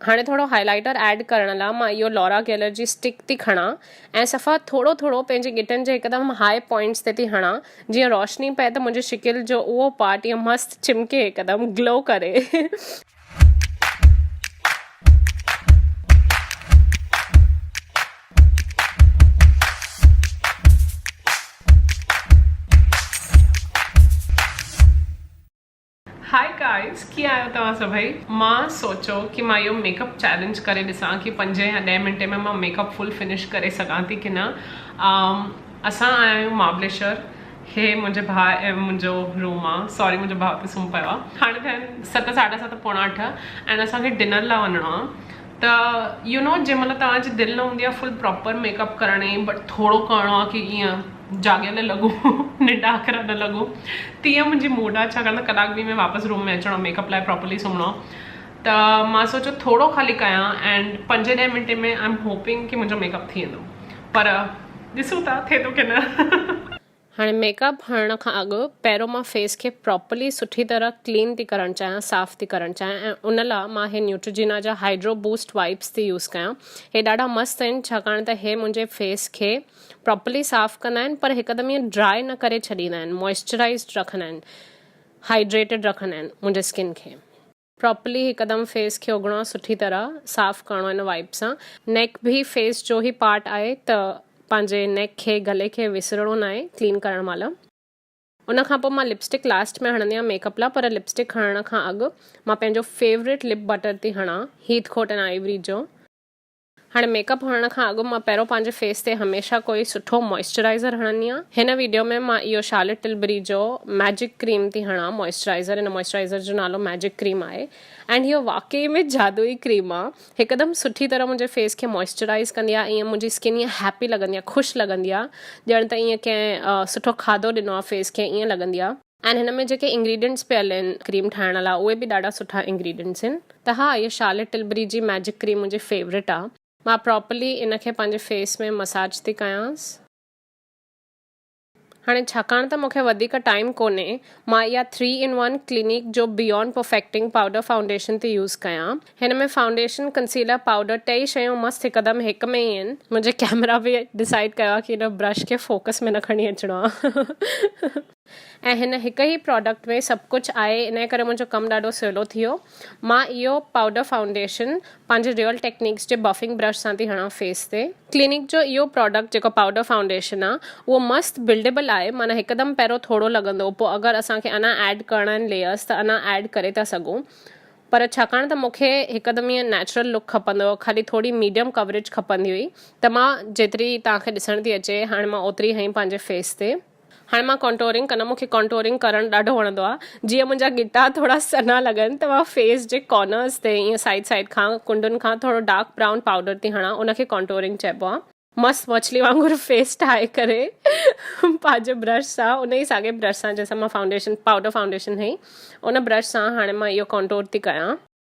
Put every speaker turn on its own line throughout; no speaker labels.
هاڻي ٿورو highlighter add ڪرڻ لا مان اهو لورا گيلر جي اسٽڪ ٿي کڻان ۽ صفا ٿورو ٿورو پنهنجي ڳٽن جي هڪدم هاء پوائنٽس تي ٿي هڻان جيئن روشني پئي ته منهنجي شڪل جو اهو پارٽ ائين مست چمڪي هڪدم گلو ڪري. Hi guys ڪيئن آهيو توهان سڀئي مان سوچيو ڪي مان اهو ميڪ اپ چيلنج ڪري ڏسان ڪي پنج يا ڏهه منٽي ۾ مان ميڪ اپ فل فنش ڪري سگهان ٿي ڪي نه اسان آيا آهيون مهابليشور هي منهنجي ڀاء ۽ منهنجو روم آ سوري منهنجو ڀاء ته سمهي پيو آ هاڻي ٿيا آهن ست ساڍا ست پوڻا اٺ ۽ اسان کي ڊنر لاء وڃڻو آ ته يو نو جنهن مهل توهان جي دل نه هوندي آ فل پراپر ميڪ اپ ڪرڻ جي بٽ ٿورو ڪرڻو آ ڪي ايئن جاڳيل لڳو ننڊاکر نه لڳو تيئن منهنجي موڊ آ ڇاڪاڻ ته ڪلاڪ ٻي ۾ واپس روم ۾ اچڻو ميڪ اپ لاء پراپرلي سمهڻو ته مان سوچيو ٿورو خالي ڪيان اينڊ پنجين ڏهين منٽين ۾ آئي ايم هوپنگ ڪي منهنجو ميڪ اپ ٿي ويندو پر ڏسون ٿا ٿئي ٿو ڪي نه. هاڻي ميڪ اپ هڻڻ کان اڳ پهريون مان فيس کي پراپرلي سٺي طرح ڪلين ٿي ڪرڻ چاهيان صاف ٿي ڪرڻ چاهيان ۽ ان لاء مان هي نيوٽريجينا جا هائيڊرو بوسٽ وائپس ٿي يوز ڪيان هي ڏاڍا مست آهن ڇاڪاڻ ته هي منهنجي فيس کي پراپرلي صاف ڪندا آهن پر هڪدم ائين ڊراء نه ڪري ڇڏيندا آهن موئسچرائيزڊ رکندا آهن هائيڊريٽيڊ رکندا آهن منهنجي اسڪن کي. پراپرلي هڪدم فيس کي اگهڻو سٺي طرح صاف ڪرڻو هن وائيپ سان نيڪ به فيس جو هي پارٽ آهي ته پنهنجي نيڪ کي گلي کي وسرڻو ناهي ڪلين ڪرڻ مهل. ان کان پوء مان لپسٽڪ لاسٽ ۾ هڻندي آهيان ميڪ اپ لا پر لپسٽڪ هڻڻ کان اڳ مان پنهنجو فيوريٽ لپ بٽر ٿي هڻان هيٿ ڪوٽ اينڊ آئيوري جو. هاڻي ميڪ اپ هڻڻ کان اڳ مان پهريون پنهنجي فيس تي هميشه ڪوئي سٺو موئسچرائيزر هڻندي آهيان. هن ويڊيو ۾ مان اهو شارلٽ ٽلبري جو ميجڪ ڪريم ٿي هڻان موئسچرائيزر هن موئسچرائيزر جو نالو ميجڪ ڪريم آهي ائنڊ هيء واقعي ۾ جادوئي ڪريم آهي هڪدم سٺي طرح منهنجي فيس کي موئسچرائيز ڪندي آهي ائين منهنجي اسڪن ائين هيپي لڳندي آهي خوش لڳندي آهي ڄڻ ته ائين ڪنهن سٺو کاڌو ڏنو آهي فيس کي ائين لڳندي آهي. اينڊ هن ۾ جيڪي انگريڊينٽس پيل آهن ڪريم ٺاهڻ لا اهي به ڏاڍا سٺا انگريڊينٽس آهن ته ها هي شارلٽ ٽلبري جي ميجڪ ڪريم منهنجي فيوريٽ آ مان پراپرلي ان کي پنهنجي فيس ۾ مساج ٿي ڪيانس. هاڻي ڇاڪاڻ ته مونکي وڌيڪ ٽائيم ڪونهي مان اها ٿري ان ون ڪلينڪ جو بيونڊ پرفيڪٽنگ پائوڊر فائونڊيشن ٿي يوز ڪيان هن ۾ فائونڊيشن ڪنسيلر پائوڊر ٽئي شيون مست هڪدم هڪ ۾ ئي آهن منهنجي ڪيمرا به ڊسائيڊ ڪيو آ ڪي هن برش کي فوڪس ۾ نه کڻي اچڻو آ ۽ هن هڪ ئي پراڊڪٽ ۾ سڀ ڪجهه آهي انهي ڪري منهنجو ڪم ڏاڍو سولو ٿيو مان اهو پائوڊر فائونڊيشن پنهنجي ريئل ٽيڪنڪس جي بفنگ برش سان ٿي هڻان فيس تي. ڪلينڪ جو اهو پراڊڪٽ جيڪو پائوڊر فائونڊيشن آهي اهو مست بلڊيبل آهي معنيٰ هڪدم پهريون ٿورو لڳندو پوء اگر اسان کي اڃان ايڊ ڪرڻا آهن ليئرس ته اڃان ايڊ ڪري ٿا سگهون پر ڇاڪاڻ ته مون کي هڪدم ائين نيچرل لڪ کپندو هو خالي ٿوري ميڊيم ڪوريج کپندي هئي ته مان جيتري توهان کي ڏسڻ ٿي اچي هاڻي مان اوتري هئين پنهنجي فيس تي هاڻي مان ڪونٽورنگ ڪندم مونکي ڪونٽورنگ ڪرڻ ڏاڍو وڻندو آ جيئن منهنجا ڳٽا ٿورا سنها لڳن ته مان فيس جي ڪارنرز تي ائين سائيڊ سائيڊ کان ڪنڊن کان ٿورو ڊارڪ برائون پائوڊر ٿي هڻان ان کي ڪونٽورنگ چئبو آ. مس مڇلي وانگر فيس ٺاهي ڪري پنهنجي برش سان ان ئي ساڳئي برش سان جنهن سان مان فائونڊيشن پائوڊر فائونڊيشن هئي ان برش سان هاڻي مان اهو ڪونٽور ٿي ڪيان.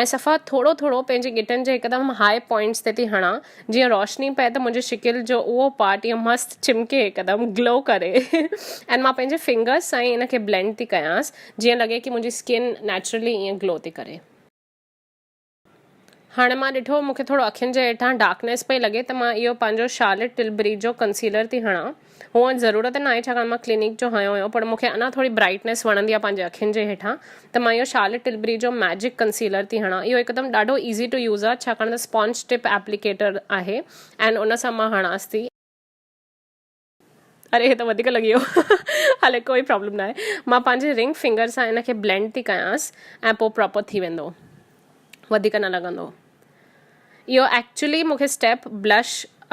۽ صفا ٿورو ٿورو پنهنجي ڳٽن جي هڪدم هاء پوائنٽس تي ٿي هڻان جيئن روشني پئي ته منهنجي شڪل جو اهو پارٽ ائين مست چمڪي هڪدم گلو ڪري ۽ مان پنهنجي فنگرس سان ئي ان کي بلينڊ ٿي ڪيانس جيئن لڳي ڪي منهنجي اسڪن نيچرلي ائين گلو ٿي ڪري. هاڻي مان ڏٺو مون کي ٿورو اکين جي هيٺان ڊارڪنيس پئي لڳي ته مان اهو پنهنجو شارلٽ ٽلبري جو ڪنسيلر ٿي هڻان. هونئن ضرورت ناهي ڇاڪاڻ مان ڪلينڪ جو هنيو هيو پر مونکي اڃا ٿوري برائٽنيس وڻندي آهي پنهنجي اکين جي هيٺان ته مان اهو شارلٽ ٽلبري جو ميجڪ ڪنسيلر ٿي هڻان اهو هڪدم ڏاڍو ايزي ٽو يوز آهي ڇاڪاڻ ته اسپونج ٽپ ايپليڪيٽر آهي اينڊ ان سان مان هڻانس ٿي اري هي ته وڌيڪ لڳي ويو هلي ڪوئي پرابلم ناهي مان پنهنجي رنگ فنگر سان ان کي بلينڊ ٿي ڪيانس ۽ پوء پراپر ٿي ويندو وڌيڪ نه لڳندو. اهو ايڪچولي مون کي اسٽيپ بلش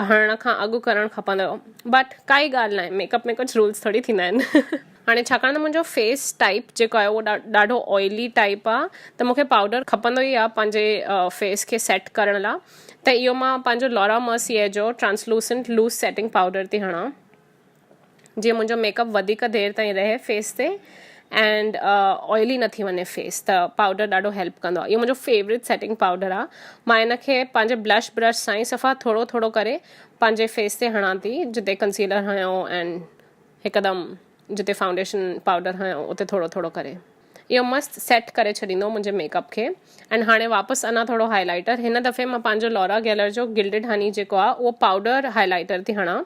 هڻڻ کان اڳ ڪرڻ کپندو هو بٽ ڪائي ڳالهه ناهي ميڪ اپ ۾ ڪجهه رولز ٿوري ٿيندا آهن. هاڻي ڇاڪاڻ ته منهنجو فيس ٽائپ جيڪو آهي اهو ڏاڍو آئلي ٽائپ آهي ته مون کي پائوڊر کپندو ئي آهي پنهنجي فيس کي سيٽ ڪرڻ لاء ته اهو مان پنهنجو لارا مرسيء جو ٽرانسلوسنٽ لوز سيٽنگ پائوڊر ٿي هڻان. جيئن منهنجو ميڪ اپ وڌيڪ دير تائين رهي فيس تي اينڊ آئلي نه ٿي وڃي فيس ته پاؤڊر ڏاڍو هيلپ ڪندو آهي اهو منهنجو فيوريٽ سيٽنگ پاؤڊر آهي مان ان کي پنهنجي بلش برش سان ئي صفا ٿورو ٿورو ڪري پنهنجي فيس تي هڻان ٿي جتي ڪنسيلر هنيو اينڊ هڪدم جتي فائونڊيشن پاؤڊر هنيو اتي ٿورو ٿورو ڪري اهو مست سيٽ ڪري ڇڏيندو منهنجي ميڪ اپ کي اينڊ هاڻي واپس انا ٿورو هائلائٽر هن دفعي مان پنهنجو لورا گيلر جو گلڊيڊ هني جيڪو آهي اهو پاؤڊر هائلائٽر ٿي هڻان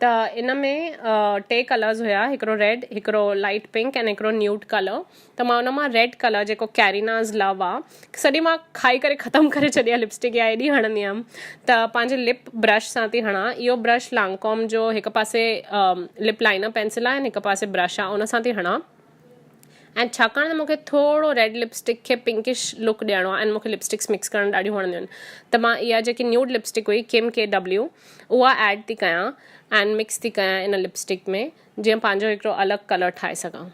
ته ان ۾ ٽي ڪلرز هيا هڪڙو ريڊ هڪڙو لائٽ پنڪ ۽ هڪڙو نيوٽ ڪلر ته مان ان مان ريڊ ڪلر جيڪو ڪيريناز لو آ سڄي مان کائي ڪري ختم ڪري ڇڏي آ لپسٽڪ يا ايڏي هڻندي هيم ته پنهنجي لپ برش سان ٿي هڻان اهو برش لانڪوم جو هڪ پاسي لپ لائنر پينسل آ ۽ هڪ پاسي برش آ ان سان ٿي هڻان اينڊ ڇاڪاڻ ته مونکي ٿورو ريڊ لپسٽڪ کي پنڪش لڪ ڏيڻو آهي اينڊ مونکي لپسٽڪس مڪس ڪرڻ ڏاڍيون وڻنديون آهن ته مان اها جيڪي نيوڊ لپسٽڪ هئي ڪيم ڪي ڊبليو اها ايڊ ٿي ڪيان اينڊ مڪس ٿي ڪيان ان لپسٽڪ ۾ جيئن پنهنجو هڪڙو الڳ ڪلر ٺاهي سگهان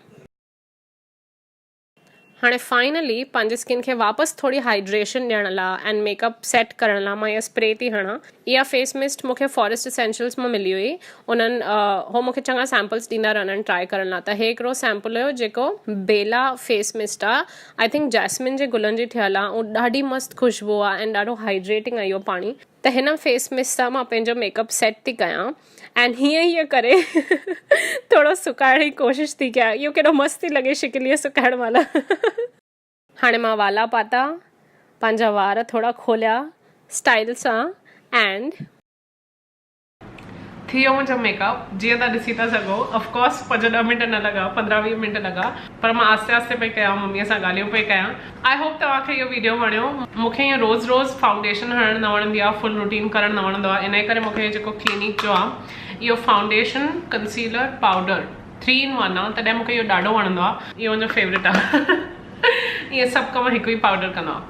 هاڻي فائنلي پنهنجي اسڪن کي واپس ٿوري هائڊريشن ڏيڻ لاء اينڊ ميڪ اپ سيٽ ڪرڻ لاء مان اها اسپري ٿي هڻان اها فيس مسٽ مون کي فاريسٽ اسينشلس مان ملي هئي انهن هو مون کي چڱا سيمپلس ڏيندا رهندا آهن ٽرائي ڪرڻ لاء ته هي هڪڙو سيمپل هيو جيڪو بيلا فيس مسٽ آ آئي ٿنڪ جاسمين جي گلن جي ٺهيل آ ۽ ڏاڍي مست خوشبو آ اينڊ ڏاڍو هائيڊريٽنگ آ اهو پاڻي ته هن فيس مسٽ سان مان پنهنجو ميڪ اپ سيٽ ٿي ڪيان اينڊ هيئن هيئن ڪري ٿورو سڪائڻ جي ڪوشش ٿي ڪيان اهو ڪيڏو مست ٿي لڳي شڪل هيء سڪائڻ مهل هاڻي مان والا پاتا، پنهنجا وار ٿورا کوليا اسٽائيل سان ائنڊ. ٿيو منهنجو ميڪ اپ جيئن تهان ڏسي ٿا سگهو اف ڪورس پنج ڏهه منٽ نه لڳا پندرهن ويهه منٽ لڳا پر مان آهستي آهستي پئي ڪيان ممي سان ڳالهيون پئي ڪيان آء هوپ توهان کي اهو ويڊيو وڻيو مونکي ائين روز روز فائونڊيشن هڻڻ نه وڻندي آهي فل روٽين ڪرڻ نه وڻندو آهي انهي ڪري مونکي هي جيڪو ڪلينڪ جو آهي اهو foundation concealer powder three in one آ تڏهن مونکي اهو ڏاڍو وڻندو آ. اهو منهنجو فيورٽ آ اهي سڀ ڪم هڪ ئي پائوڊر ڪندو آ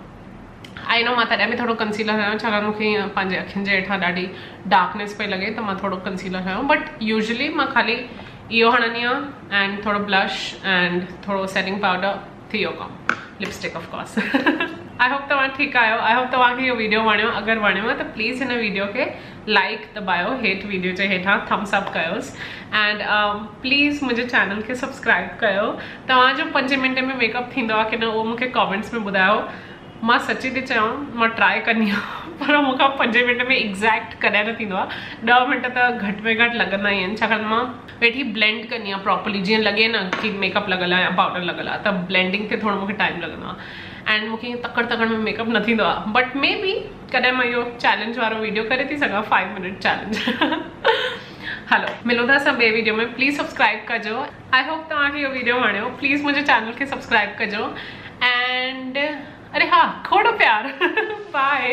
آئي نو مان تڏهن به ٿورو ڪنسيلر هنيو ڇاڪاڻ مونکي ائين پنهنجي اکين جي هيٺان ڏاڍي ڊارڪنيس پئي لڳي ته مان ٿورو ڪنسيلر هنيو بٽ يوزلي مان خالي اهو هڻندي آ اينڊ ٿورو بلش اينڊ ٿورو سيٽنگ پائوڊر ٿي ويو ڪم lipstick of course I hope توهان ٺيڪ آهيو آئي هوپ توهان کي اهو ويڊيو وڻيو اگر وڻيو ته پليز هن ويڊيو کي لائڪ دٻايو هيٺ ويڊيو جي هيٺان ٿمس اپ ڪيوس اینڈ پليز منهنجي چينل کي سبسڪرائب ڪيو توهان جو پنج منٽ ۾ میڪ اپ ٿيندو آهي ڪن اهو مونکي ڪامينٽس ۾ ٻڌايو مان سچي ٿي چيان مان ٽرائي ڪندي آهيان پر مون کان پنجين منٽن ۾ ايگزيڪٽ ڪڏهن نه ٿيندو آهي ڏهه منٽ ته گهٽ ۾ گهٽ لڳندا ئي آهن ڇاڪاڻ مان ويٺي بلينڊ ڪندي آهيان پراپرلي جيئن لڳي نه ڪي ميڪ اپ لڳل آهي يا پاؤڊر لڳل آهي ته بلينڊنگ کي ٿورو مون کي ٽائم لڳندو آهي اينڊ مون کي ائين تڪڙ تڪڙ ۾ ميڪ اپ نه ٿيندو آهي بٽ مي بي ڪڏهن مان اهو چيلنج وارو ويڊيو ڪري ٿي سگهان فائيو منٽ چيلنج هلو ملون ٿا اسان ٻي ويڊيو ۾ پليز سبسڪرائب ڪجو آئي هوپ توهان کي اهو ويڊيو وڻيو پليز منهنجي چينل کي سبسڪرائب ڪجو اينڊ اري ها کوڙ پيار بائي